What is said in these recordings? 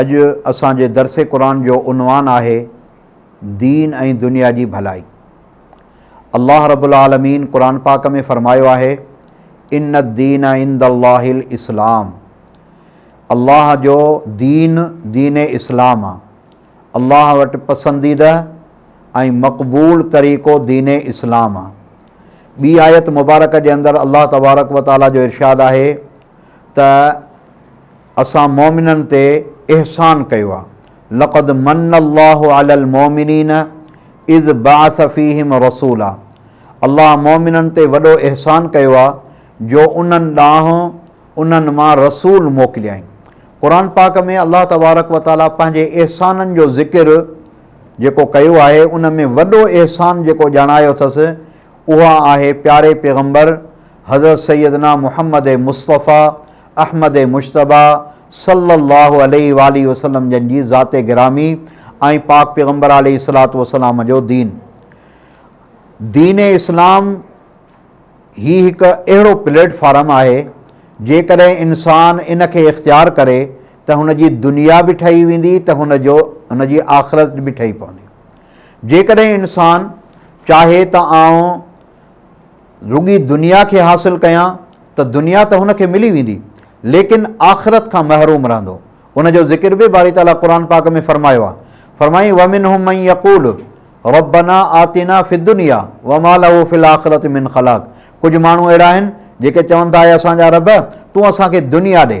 اڄ اسان جي درس قرآن جو عنوان آهي دين ۽ دنيا جي ڀلائي. الله رب العالمين قرآن پاڪ ۾ فرمايو آهي ان الدين عند الله الاسلام الله جو دين دين اسلام آ الله وٽ پسنديده ۽ مقبول طريقو دين اسلام آ ٻي آيت مبارڪ جي اندر الله تبارڪ وتعالي جو ارشاد آهي ته اسان مؤمنن تي احسان ڪيو آهي، لقد مَنَّ اللّٰه عَلَى المؤمنين اذ بعث فيهم رسولا الله مؤمنن تي وڏو احسان ڪيو آهي جو انهن ڏانهن انهن مان رسول موڪليائين. قرآن پاڪ ۾ الله تبارڪ وتعاليٰ پنهنجي احسانن جو ذڪر جيڪو ڪيو آهي ان ۾ وڏو احسان جيڪو ڄاڻايو اٿس اها آهي پياري پيغمبر حضرت سيدنا محمد مصطفٰي احمد مجتبيٰ صلّي اللّٰه عليه واٰله وسلّم جن جي ذات گرامي ۽ پاڪ پيغمبر عليه الصلّة والسلّام جو دين. دين اسلام هي هڪ اهڙو پليٽ فارم آهي جيڪڏهن انسان ان کي اختيار ڪري ته هن جي دنيا به ٺهي ويندي ته هن جو هن جي آخرت به ٺهي پوندي جيڪڏهن انسان چاهي ته آئون رڳي دنيا کي حاصل ڪيان ته دنيا ته هن کي ملي ويندي ليڪن آخرت کان محروم رهندو ان جو ذڪر به باري تعاليٰ قرآن پاڪ ۾ فرمايو آهي فرمائي ومن هم مئي يقول ربنا آتينا في دنيا وما له في الآخرت من خلاق ڪجهه ماڻهو اهڙا آهن جيڪي چون ٿا اي اسان جا رب تون اسان کي دنيا ڏي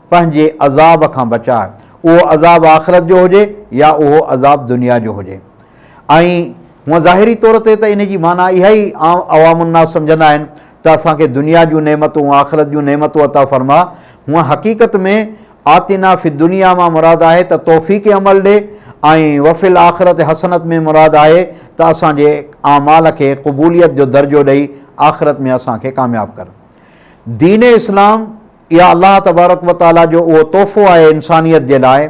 پنهنجي عذاب کان بچاء، اهو عذاب آخرت جو هجي يا اهو عذاب دنيا جو هجي. ۽ هونء ظاهري طور تي ته ان جي معنيٰ اها ئي عام عوام الناس سمجهندا آهن ته اسان کي دنيا جون نعمتون، آخرت جون نعمتون عطا فرماء. هونء حقيقت ۾ آتنا في الدنيا مان مراد آهي ته توفيق عمل ڏي ۽ وفي الاخرة حسنة ۾ مراد آهي ته اسان جي اعمال کي قبوليت جو درجو ڏئي آخرت ۾ اسان کي ڪامياب ڪر. دين اسلام. اها الله تبارڪ و تعالي جو اهو تحفو آهي انسانيت جي لاء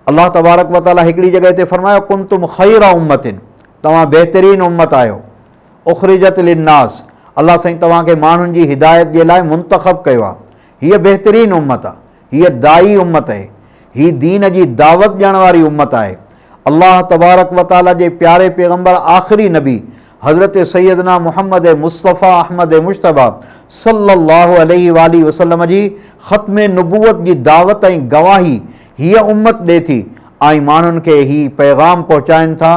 الله تبارڪ و تعالي هڪڙي جڳهه تي فرمايو ڪن تم خير امتن توهان بهترين امت آهيو اخرجت للناس الله سائين توهان کي ماڻهن جي هدايت جي لاء منتخب ڪيو آهي هيء بهترين امت آهي هيء دائي امت آهي هي دين جي دعوت ڏيڻ واري امت آهي الله تبارڪ و تعالي جي پياري پيغمبر آخري نبي حضرت سيدنا محمد مصطفيٰ احمد مجتبيٰ صلّي اللّٰه عليه واٰله وسلّم جي ختم نبوّت جي دعوت ۽ گواهي هيء امّت ڏي ٿي ۽ ماڻهن کي هي پيغام پهچائين ٿا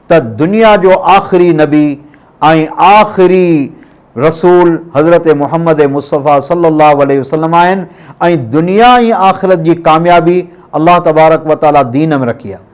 ته دنيا جو آخري نبي ۽ آخري رسول حضرت محمد مصطفيٰ صلّي اللّٰه عليه وسلّم آهن ۽ دنيا ۽ آخرت جي ڪاميابي الله تبارڪ وتعاليٰ دين ۾ رکي آهي.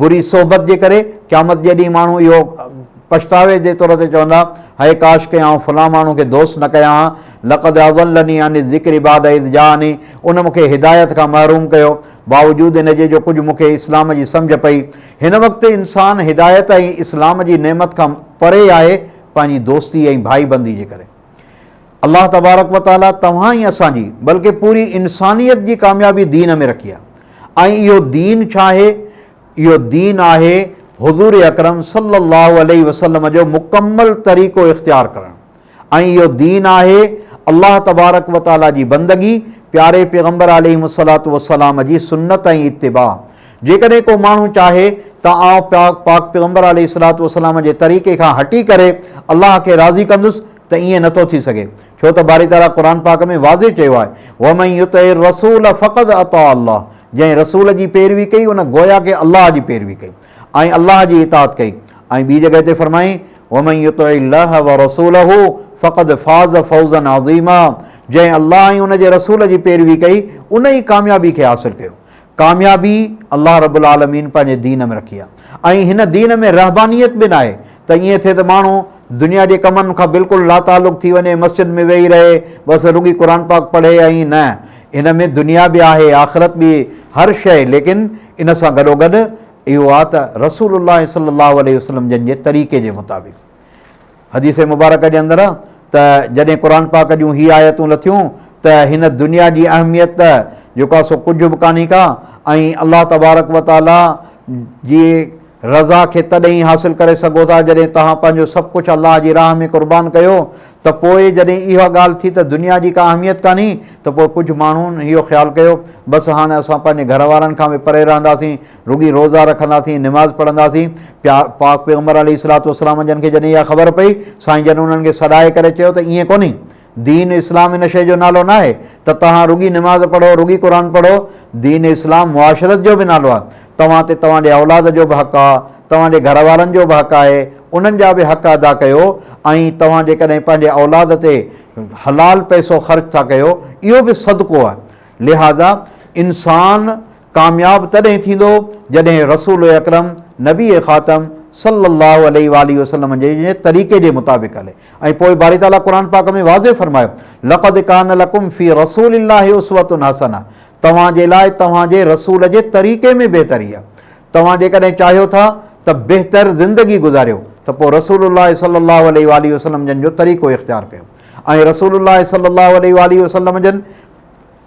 بري صحبت جي ڪري قيامت جي ڏينهن ماڻهو اهو پڇتاوي جي طور تي چوندا، هئي ڪاش ڪئين آئون فلان ماڻهو کي دوست نه ڪيان ها، لقد اضلني عن الذڪر بعد اذ جاءني، ان مون کي هدايت کان محروم ڪيو، باوجود ان جي جو ڪجهه مون کي اسلام جي سمجهه پئي. هن وقت انسان هدايت ۽ اسلام جي نعمت کان پري آهي پنهنجي دوستي ۽ ڀائيبندي جي ڪري. الله تبارڪ و تعالي توهان ۽ اسان جي بلڪه پوري انسانيت جي ڪاميابي دين ۾ رکي آهي ۽ اهو دين ڇا آهي اهو دين آهي حضور اڪرم صلي الله عليه وسلم جو مڪمل طريقو اختيار ڪرڻ ۽ اهو دين آهي الله تبارڪ و تعالي جي بندگي پياري پيغمبر عليه الصلاة والسلام جي سنت ۽ اتباع جيڪڏهن ڪو ماڻهو چاهي ته آئون پاڪ پيغمبر عليه الصلاة والسلام جي طريقي کان هٽي ڪري الله کي راضي ڪندس ته ائين نٿو ٿي سگهي ڇو ته باري تعاليٰ قرآن پاڪ ۾ واضح چيو آهي ومن يطع الرسول فقد اطاع الله جنهن رسول جي پيروي ڪئي ان گويا ڪي الله جي پيروي ڪئي ۽ الله جي اطاعت ڪئي ۽ ٻي جڳهه تي فرمائي ومن يطع الله ورسوله فقد فاز فوزا عظيما جنهن الله ۽ ان جي رسول جي پيروي ڪئي ان ئي ڪاميابي کي حاصل ڪيو ڪاميابي الله رب العالمين پنهنجي دين ۾ رکي آهي ۽ هن دين ۾ رهبانيت به ناهي ته ائين ٿئي ته ماڻهو دنيا جي ڪمن کان بلڪل لاتعلق ٿي وڃي مسجد ۾ ويهي رهي بس رڳي قرآن پاڪ پڙهي ۽ نه ان ۾ دنيا به آهي آخرت به هر شيء ليڪن ان سان گڏوگڏ اهو آهي ته رسول الله صلي الله عليه وسلم جن جي طريقي جي مطابق حديث مبارڪه جي اندر ته جڏهن قرآن پاڪ جون هي آيتون لٿيون ته هن دنيا جي اهميت ته جيڪو آهي سو ڪجهه به ڪانهي ڪا ۽ الله تبارڪ و تعاليٰ جي رضا کي تڏهن ئي حاصل ڪري سگهو ٿا جڏهن توهان پنهنجو سڀ ڪجهه الله جي راهه ۾ قربان ڪيو ته پوء جڏهن اها ڳالهه ٿي ته دنيا جي ڪا اهميت ڪانهي ته پوء ڪجهه ماڻهن اهو خيال ڪيو بس هاڻ اسان پنهنجي گهر وارن کان به پري رهنداسين رڳي روزا رکنداسين، نماز پڙهنداسين، پيا پاڪ پيغمبر عليه الصلوة والسلام جن کي جڏهن اها خبر پئي، سائين جن انهن کي سڏائي ڪري چيو ته ائين ڪونهي، دين اسلام ان شيء جو نالو ناهي ته توهان رڳي نماز پڙهو، رڳي قرآن پڙهو، دين اسلام معاشرت جو به نالو آهي، توهان تي توهان جي اولاد جو به حق آ، توهان جي گهر وارن جو به حق آهي، انهن جا به حق ادا ڪيو ۽ توهان جيڪڏهن پنهنجي اولاد تي حلال پئسو خرچ ٿا ڪيو، اهو به صدقو آهي، لهذا انسان ڪامياب تڏهن ٿيندو جڏهن رسول اڪرم نبي خاتم صلّي اللّٰه عليه واٰله وسلّم جي طريقي جي مطابق هلي ۽ پوء باري تعالٰي قرآن پاڪ ۾ واضح فرمايو لقد ڪان لڪم في رسول الله اسوة حسنة توهان جي لاء توهان جي رسول جي طريقي ۾ بهتري آهي توهان جيڪڏهن چاهيو ٿا ته بهتر زندگي گذاريو ته پوء رسول الله صلّي اللّٰه عليه واٰله وسلّم جن جو طريقو اختيار ڪيو ۽ رسول الله صلّي اللّٰه عليه واٰله وسلّم جن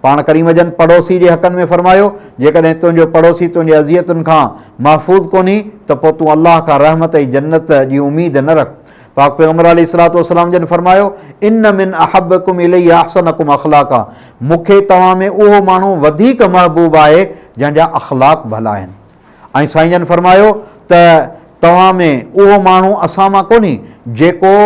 پاڻ ڪريم جن پڙوسي جي حقن ۾ فرمايو، جيڪڏهن تنهنجو پڙوسي تنهنجي اذيتن کان محفوظ ڪونهي ته پوء تون الله کان رحمت ۽ جنت جي اميد نه رک. پاڪ پيغمبر عليه الصلوة والسلام جن فرمايو، ان من احبڪم الي احسنڪم اخلاقا، مون کي توهان ۾ اهو ماڻهو وڌيڪ محبوب آهي جنهن جا اخلاق ڀلا آهن. ۽ سائين جن فرمايو ته توهان ۾ اهو ماڻهو اسان مان ڪونهي جيڪو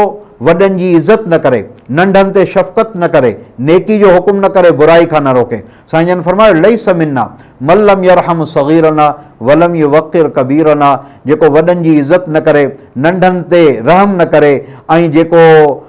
وڏن جي عزت نه ڪري، ننڍن تي شفقت نه ڪري، نيڪي جو حڪم نه ڪري برائي کان نه روڪي. سائين جن فرمايو، ليس منا من لم يرحم صغيرنا ولم يوقر ڪبيرنا جيڪو وڏن جي عزت نه ڪري، ننڍن تي رحم نه ڪري ۽ جيڪو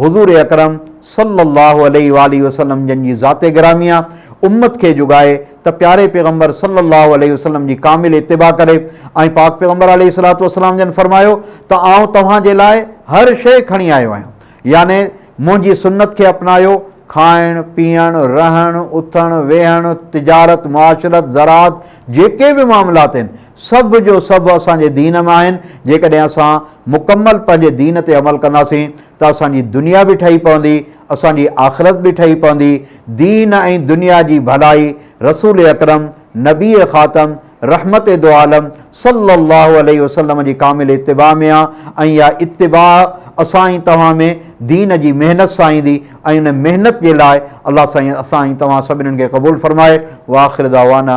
حضور اڪرم صلّي اللّٰه عليه واٰله وسلّم جن جي ذات گرامي آ امّت کي جڳائي ته پياري پيغمبر صلّي اللّٰه عليه وسلّم جي ڪامل اتباع ڪري ۽ پاڪ پيغمبر عليه الصلّوة والسلّام جن فرمايو ته آئون توهان جي لاء هر شيء کڻي آيو آهيان يعني منهنجي سنّت کي اپنايو کائڻ، پيئڻ، رهڻ، اٿڻ، ويهڻ، تجارت، معاشرت، زراعت جيڪي به معاملات آهن سڀ جو سڀ اسان جي دين ۾ آهن، جيڪڏهن اسان مڪمل پنهنجي دين تي عمل ڪنداسين ته اسان جي دنيا به ٺهي پوندي، اسان جي آخرت به ٺهي پوندي، دين ۽ دنيا جي ڀلائي رسول اڪرم، نبي خاتم، رحمت دوعالم صلّي اللّٰه عليه وسلّم جي ڪامل اتباع ۾ آ ۽ اها اتباع اسان ۽ توهان ۾ دين جي محنت سان ايندي ۽ ان محنت جي لاء الله سائين اسان ۽ توهان سڀنين کي قبول فرمائي واخر دعوانا